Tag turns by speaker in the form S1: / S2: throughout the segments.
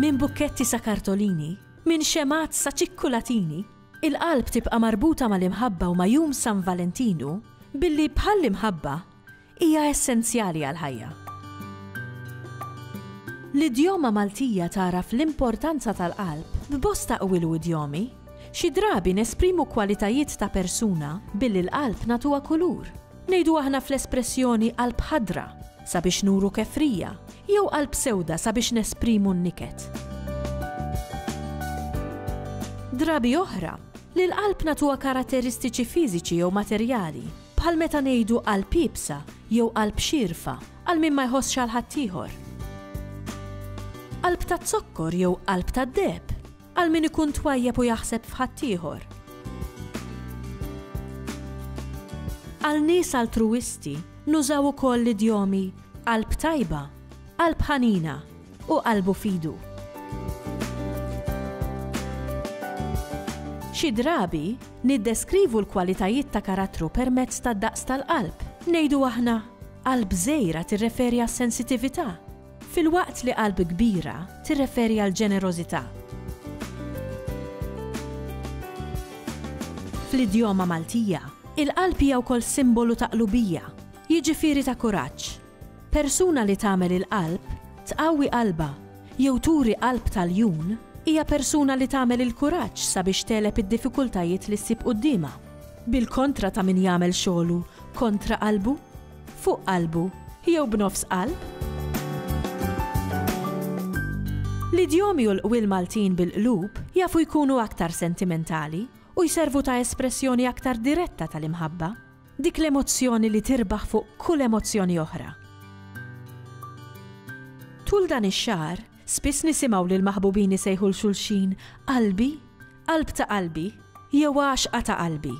S1: Minn bukketti sa kartolini, minn xemgħat sa ċikkulatini, il-qalb tibqa' marbuta mal-imħabba u ma' jum San Valentinu billi bħall-imħabba, Hija essenzjali għall-ħajja. L-idjoma Maltija tagħraf l-importanza tal-qalb f'bosta qwil u idjomi. Xi drabi nesprimu kwalitajiet ta' persuna billi l-qalb nagħtuha kulur. Ngħidu aħna fl-espressjoni qalb ħadra sabiex nuru kefrija jew qalb sewda sabiex nesprimu n-niket. Drabi oħra, lill-qalb nagħtuha karatteristiċi fiżiċi jew materjali. Bħal meta ngħidu qalb iebsa jew qalb xierfa għal min ma jħossx għal ħaddieħor. Qalb taz-zokkor jew qalb tad-deheb għal min ikun twajjeb u jaħseb f'ħaddieħor. Għal nies altruwisti nużaw ukoll l-idjomi qalb tajba, qalb ħanina, u qalbu f'idu. Xi drabi, niddeskrivu l-kwalitajiet ta' karattru permezz tad-daqs tal-qalb. Ngħidu aħna, Qalb żgħira tirreferi għas-sensitività, filwaqt li qalb kbira tirreferi għall-ġenerożità. Fl-idjoma Maltija, il-qalb hija wkoll simbolu ta' qlubija, jiġifieri ta' kuraġġ. Persuna li tagħmel il-qalb, tqawwi qalbha, jew turi qalb ta' ljun, hija persuna li tagħmel il-kuraġġ sabiex tegħleb id-diffikultajiet li ssib quddiemha. Bil-kontra ta' min jagħmel xogħlu kontra qalbu, fuq qalbu, jew b'nofs qalb. L-idjomi u l-qwiel Maltin bil-qlub jafu jkunu aktar sentimentali u jservu ta' espressjoni aktar diretta tal-imħabba. Dik l-emozzjoni li tirbaħ fuq kull emozzjoni oħra. Tul dan ix-xahar, spiss nisimgħu lil maħbubin isejħu 'l xulxin qalbi, qalb ta' qalbi, jew għaxqa ta' qalbi.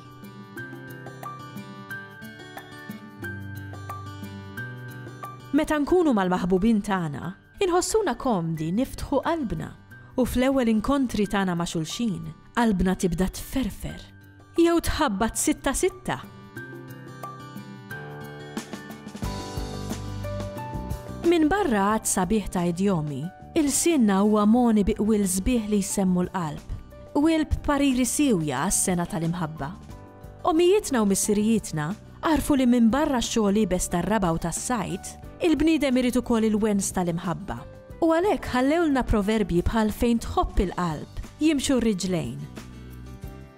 S1: Meta nkunu mal-maħbubin tagħna, Inħossuna komdi niftħu qalbna u fl-ewwel inkontri tagħna ma' xulxin, qalbna tibda tferfer jew tħabbat sitta sitta. Minbarra għadd sabiħ ta' idjomi, ilsienna huwa mogħni bi qwiel sbieħ li jsemmu l-qalb, qwiel b'pariri siewja għas-sengħa tal-imħabba. Ommijietna u missirijietna Agħrfu li minbarra x-xogħol iebes tar-raba' u tas-sajd, il-bniedem irid ukoll il-wens tal-imħabba. U għalhekk ħallewlna proverbji bħal fejn tħobb il-qalb, jimxu r-riġlejn.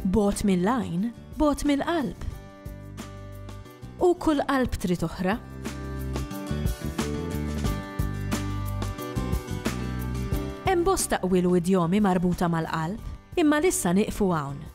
S1: Bogħod mill-għajn, bogħod mill-qalb. U kull qalb trid oħra. Hemm bosta qwiel u idjomi marbuta mal-qalb, imma l-issa nieqfu hawn.